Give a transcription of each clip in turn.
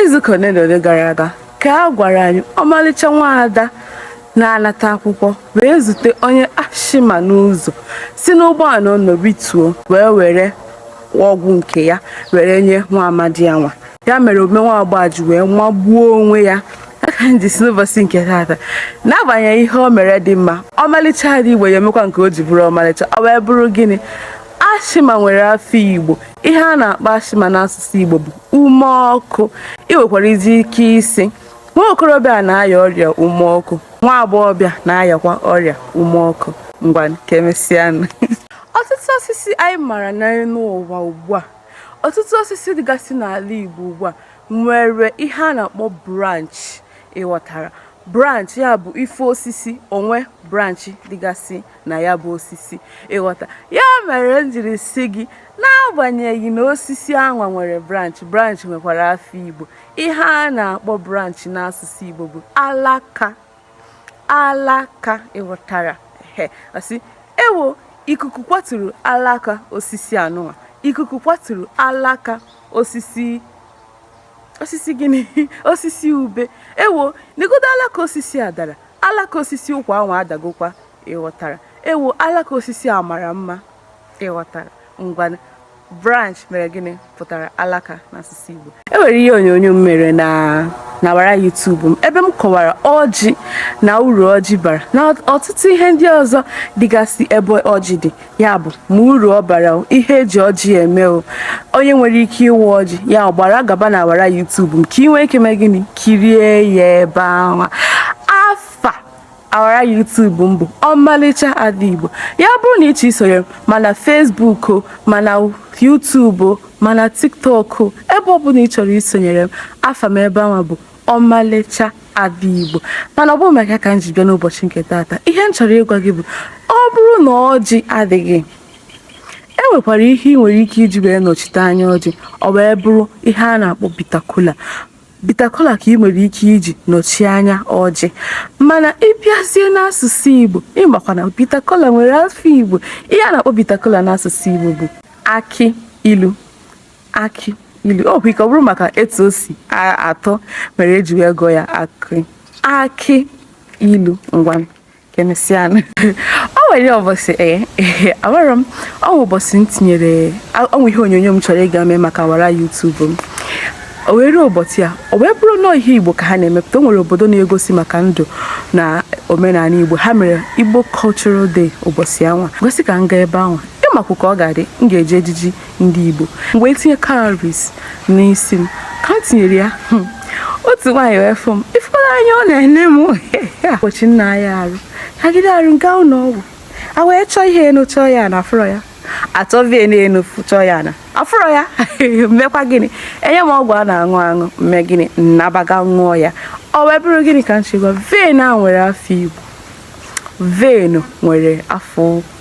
izuụka ole na ole gara aga ka a gwara anyị ọmalịcha nwaada na-anata akwụkwọ wee zute onye asthma n'ụzọ si n'ụgbọala ọ nọ rituo wee were ọgwụ nke ya were nye nwa amadi anwa ya mere omume nwa agbọọ ji wee magbuo onwe ya ọ ka m ji sị n'ụbọchị nke taata n'agbanyeghị ihe o mere dị mma ọmalịcha ada igbo ya-emekwa nke o ji bụrụ ọmalịcha ọ wee bụrụ gịnị asthma nwere afa igbo ihe a na-akpọ asthma n'asụsụ igbo bụ ume ọkụ ị nwekwara izi ike ịsị nwa okorobịa na-aya ọrịa ume ọkụ nwa agbọghọbịa na-ayakwa ọrịa ume ọkụ ngwa ka emesịanụ ọtụtụ osisi anyị mara n'elu ụwa ugbu a ọtụtụ osisi dịgasị n'ala Igbo ugbu a nwere ihe a na-akpọ branch ị ghọtara branch ya bụ ife osisi o nwe branch dịgasị na ya bụ osisi ị ghọta ya mere m jiri sị gị n'agbanyeghị na osisi anwa nwere branch branch nwekwara afa igbo ihe a na-akpọ branch n'asụsụ igbo bụ alaka alaka ị ghọtara a sị ewo ikuku kwaturu alaka osisi anwa ikuku kwaturu alaka osisi osisi gịnị osisi ube ewo negodo alaka osisi a dara alaka osisi ụkwa anwa adagokwa ị ghọtara ewo alaka osisi a mara mma ị ghọtara ngwa branch mere gịnị pụtara alaka n'asụsụ Igbo e nwere ihe onyonyo m mere n'awara YouTube m ebe m kọwara ọjị na uru ọjị bara na ọtụtụ ihe ndị ọzọ dịgasị ebe ọjị dị ya bụ ma uru ọ bara o, ihe e ji ọjị eme o onye nwere ike ịwa ọjị ya gbara gaba n'awara YouTube m ka ị nwee ike mee gịnị kirie ya ebe ahụ afa awara YouTube m bụ ọmalịcha ada igbo ya bụrụ na ị chọọ isonye m ma na Facebook o ma na YouTube o ma na TikTok o ebe ọ bụla ị chọrọ isonyere m afa m ebe ahụ bụ ọmalịcha ada igbo mana ọ bụrọ maka ya ka m ji bịa n'ụbọchị nke taata ihe m chọrọ ịgwa gị bụ ọ bụrụ na ọjị adịghị e nwekwara ihe ị nwere ike iji wee nọchite anya ọjị ọ wee bụrụ ihe a na-akpọ bitter kola bitter kola ka ị nwere ike iji nọchie anya ọjị mana ị bịazie n'asụsụ igbo ị makwa na bitter kola nwere afa igbo ihe a na-akpọ bitter kola n'asụsụ igbo bụ akị ilu akị ilu o nwe ike ọ bụrụ maka etu o si atọ mere e ji wee gụọ ya akị akị ilu ngwa ka emesịanụ o nwere ụbọchị ee eh, amarọ m ọ bụ ụbọchị m tinyere o nwe ihe onyonyo m chọrọ ịga mee maka awara YouTube m o wee ruo ụbọchị a o wee bụrụ na ihe igbo ka ha na-emepụta o nwere obodo na-egosi maka ndụ na omenala igbo ha mere igbo cultural day ụbọchị anwa gosi ka m gaa ebe ahụ ị makwa ka ọ ga-adị m ga-eji ejiji ndị Igbo m wee tinye cowries n'isi m ka m tinyere ya hmm, otu nwaanyị wee fụ m ịfụla anya ọ na-ene m ụbọchị nna ya arụ agide arụ gaa ụlọ ọgwụ a wee chọọ vein chọọ ya na afụrọ ya achọọ vein chọọ ya na afụrọ ya mmekwa gịnị enye m ọgwụ a na-aṅụ aṅụ m mee gịnị m nabaga ṅụọ ya ọ wee bụrụ gịnị ka m chọ ịgwa vein a nwere afa Igbo vein nwere afa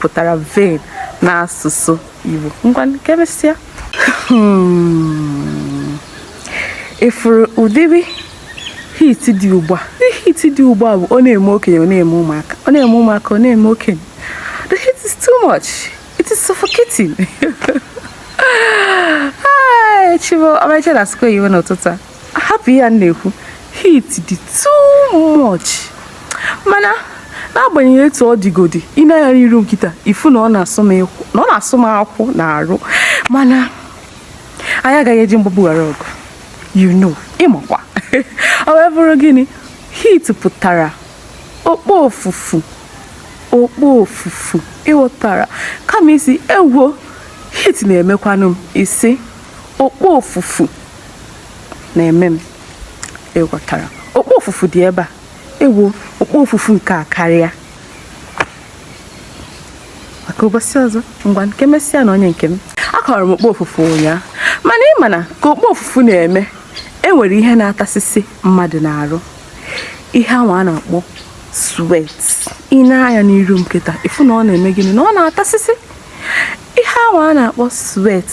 pụtara vein n'asụsụ Igbo ngwa ka emesịa hmm. ịfụrụ ụdịrị heat dị ugbu a heat dị ugbu a bụ ọ na-eme okenye ọ na-eme ụmụaka ọ na-eme ụmụaka ọ na-eme okenye the heat is too much it is suffocating chibo ọmarịcha na-asụkwa ihe n'ụtụtụ a hapụ ihe a na-ekwu heat dị too much mana n'agbanyeghị etu ọ dịgodi i nee anya n'iru m kịta ịfụ na ọ na-asụ m akwụ n'arụ mana anyị agaghị eji mgbagbu ghara ọgụ you know ịmakwa ọ wee bụrụ gịnị heat pụtara okpo ofufu okpo ofufu ịghọtara kama ịsị ewo heat na-emekwanụ m ịsị okpo ofufu na-eme m ịghọtara okpo ofufu dị ebe a ewo okpo ofufu nke a karịa maka ụbọchị ọzọ ngwanụ ka emesịanụ onye nke m akọwara m okpo ofufu ụnyaahụ mana ị ma na ka okpo ofufu na-eme enwere ihe na-atasịsị mmadụ n'arụ ihe anwa a na-akpọ sweat i nee anya n'iru m kịta ịfụ na ọ na-eme gịnị na ọ na-atasịsị ihe anwa a na-akpọ sweat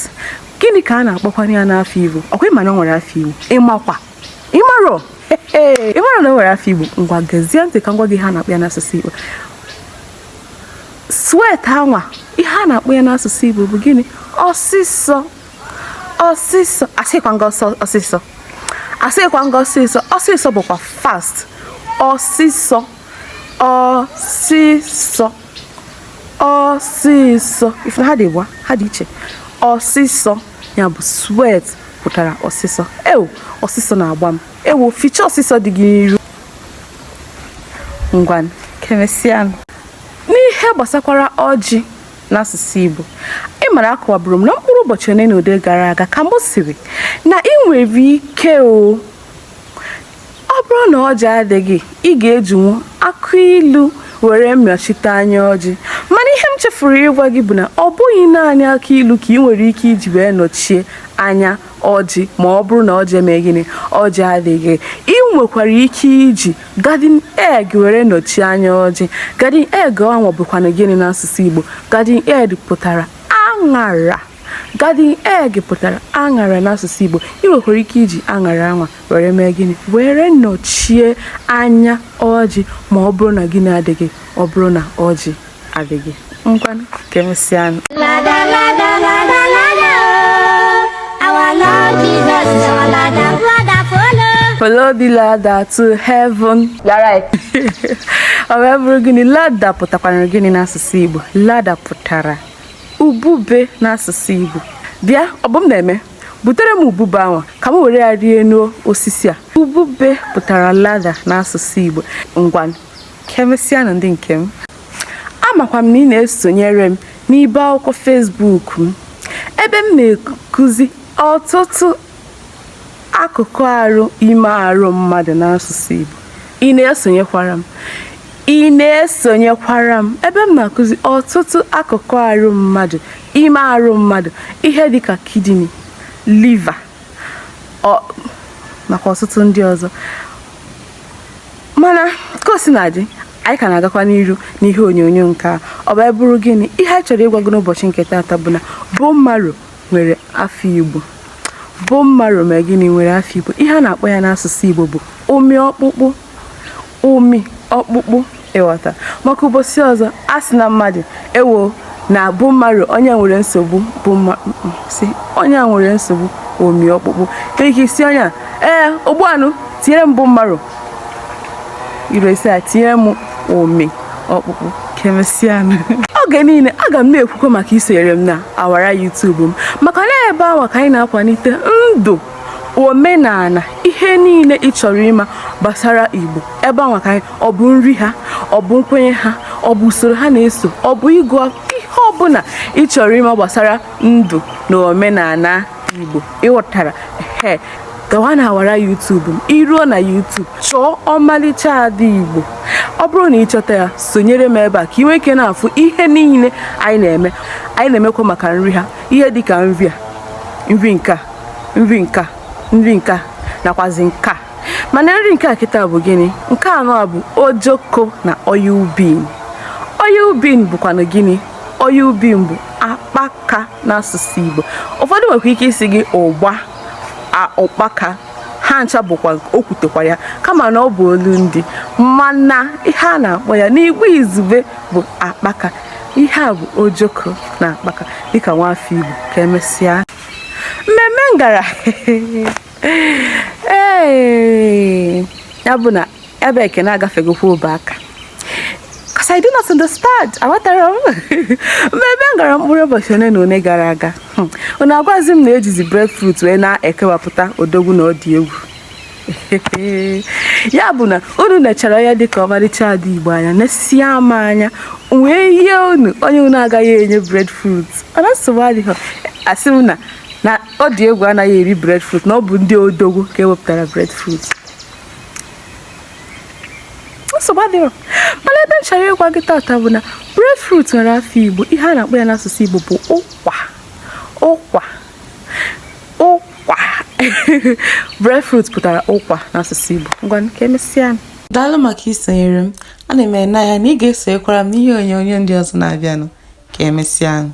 gịnị ka a na-akpọkwanụ ya n'afa igbo ọkwa ịma na o nwere afa igbo ịmakwa ịmarọ ịmarọ na o nwere afa igbo ngwa gezie ntị ka m gwa gị ihe a na-akpọ ya n'asụsụ igbo sweat anwa ihe a na-akpọ ya n'asụsụ igbo bụ gịnị ọsịsọ ọsịsọ asịkwa m gị ọsịsọ asịkwa m gị ọsịsọ ọsịsọ bụkwa fast ọsịsọ ọsịsọ ọsịsọ ịfụ na ha dị ịbụa ha dị iche ọsịsọ ya bụ sweat pụtara ọsịsọ ewo ọsịsọ na-agba m ewo ficha ọsịsọ dị gị n'iru ngwa ka emesịanụ n'ihe gbasakwara ọjị n'asụsụ Igbo ị mara akọwaburu m na mkpụrụ ụbọchị ole na ole gara aga ka m sịrị na ị nwere ike o ọ bụrụ na ọjị adịghị ị ga-ejinwu akụ ilu were nọchite anya ọjị mana ihe m chefuru ịgwa gị bụ na ọ bụghị naanị akụ ilu ka ị nwere ike iji wee nọchie anya ọjị ma ọ bụrụ na ọjị eme gịnị ọjị adịghị ị nwekwara ike iji garden egg were nọchie anya ọjị garden egg ahụ bụkwanụ gịnị n'asụsụ Igbo garden egg pụtara aṅara Garden egg pụtara aṅara n'asụsụ Igbo. Ị nwekwara ike iji aṅara anwa were mee gịnị? Were nọchie anya ọjị ma ọ bụrụ na gịnị adịghị ọ bụrụ na ọjị adịghị. Ngwanụ ka emesịanụ. Follow the ladder to heaven. You're right. ọ wee bụrụ gịnị ladder pụtakwara gịnị n'asụsụ Igbo ladder pụtara ubube n'asụsụ Igbo bịa Ọbụmneme butere m ubube ahụ ka m were ya rịa enu osisi a ubube pụtara ladder n'asụsụ Igbo ngwa ka emesịanụ ndị nke m amakwa m na ị na-esonyere m n'ibe akwụkwọ Facebook m ebe m na-ekuzi ọtụtụ Akụkụ arụ ime arụ mmadụ n'asụsụ Igbo. Ị na-esonyekwara m? Ị na-esonyekwara m? Ebe m na-akụzi ọtụtụ akụkụ arụ mmadụ, ime arụ mmadụ, ihe dịka kidney, liver, nakwa ọtụtụ ndị ọzọ. Mana ka o sina dị, anyị ka na-agakwa n'iru n'ihe onyonyo nke a. Ọ wee bụrụ gịnị? Ihe anyị chọrọ ịgwa gị n'ụbọchị nke taata bụ na bone marrow nwere afa Igbo bone marrow mee gịnị nwere afa Igbo ihe a na-akpọ ya n'asụsụ Igbo bụ ụmị ọkpụkpụ ụmị ọkpụkpụ ị ghọta maka ụbọchị ọzọ a sị na mmadụ ewo na bone marrow onye nwere nsogbu bone marrow sị onye nwere nsogbu ụmị ọkpụkpụ ka ike ịsị onye a ee ogbu anụ tinyere m bone marrow iresi a tinye m ụmị ọkpụkpụ ka emesịanụ oge niile aga m na-ekwukwa maka isonyere m na awara YouTube m maka na ebe anwa ka anyị na-akwalite ndụ omenala ihe niile ị chọrọ ịma gbasara Igbo ebe anwa ka anyị ọ bụ nri ha ọ bụ nkwenye ha ọ bụ usoro ha na-eso ọ bụ ịgụ ihe ọbụla ị chọrọ ịma gbasara ndụ na omenala Igbo ị ghọtara he gawa na awara YouTube m i ruo na YouTube chọọ ọmalịcha ada Igbo ọ bụrụ na ị chọta ya sonyere m ebe a ka ị nwee ike na-afụ ihe niile anyị na-eme anyị na-emekwa maka nri ha ihe dịka nri nka nakwazi nka mana nri nke a kịta bụ gịnị nke anwa bụ ojoko na oil bean oil bean bụkwanụ gịnị oil bean bụ akpa ka n'asụsụ Igbo ụfọdụ nwekwa ike ịsị gị ụgba ụkpaka ha ncha bụkwa o kwutekwa ya kama na ọ bụ olu ndị mana ihe a na-akpọ ya n'igbo izugbe bụ akpaka ihe a bụ ojoko na akpaka dịka nwafọ igbo ka emesịa mmemme m gara ee ya bụ na ebe ekene agafegokwa obe aka because I do not understand aghọtarọ m mmemme m gara mkpụrụ ụbọchị ole na ole gara aga hmm. unu agwazi m na ejizi breadfruit wee na-ekewapụta odogwu na ọ dị egwu ya bụ na unu nechara ya dịka ọmarịcha ada igbo anya nesie ama anya wee yie unu onye unu agaghị enye breadfruit mana nsogbu adịghị asị m na na ọ dị egwu anaghị eri breadfruit na ọ bụ ndị odogwu ka ewepụtara breadfruit nsogbu adịrọ mana ihe m chọrọ ịgwa gị tata bụ na breadfruit nwere afa igbo ihe a na-akpọ ya n'asụsụ igbo bụ ụkwa ụkwa ụkwa breadfruit pụtara ụkwa n'asụsụ igbo ngwa ka emesịa daalụ maka isonyere m ana m ene anya na ị ga-esonyekwara m n'ihe onyonyo ndị ọzọ na-abịanụ ka emesịanụ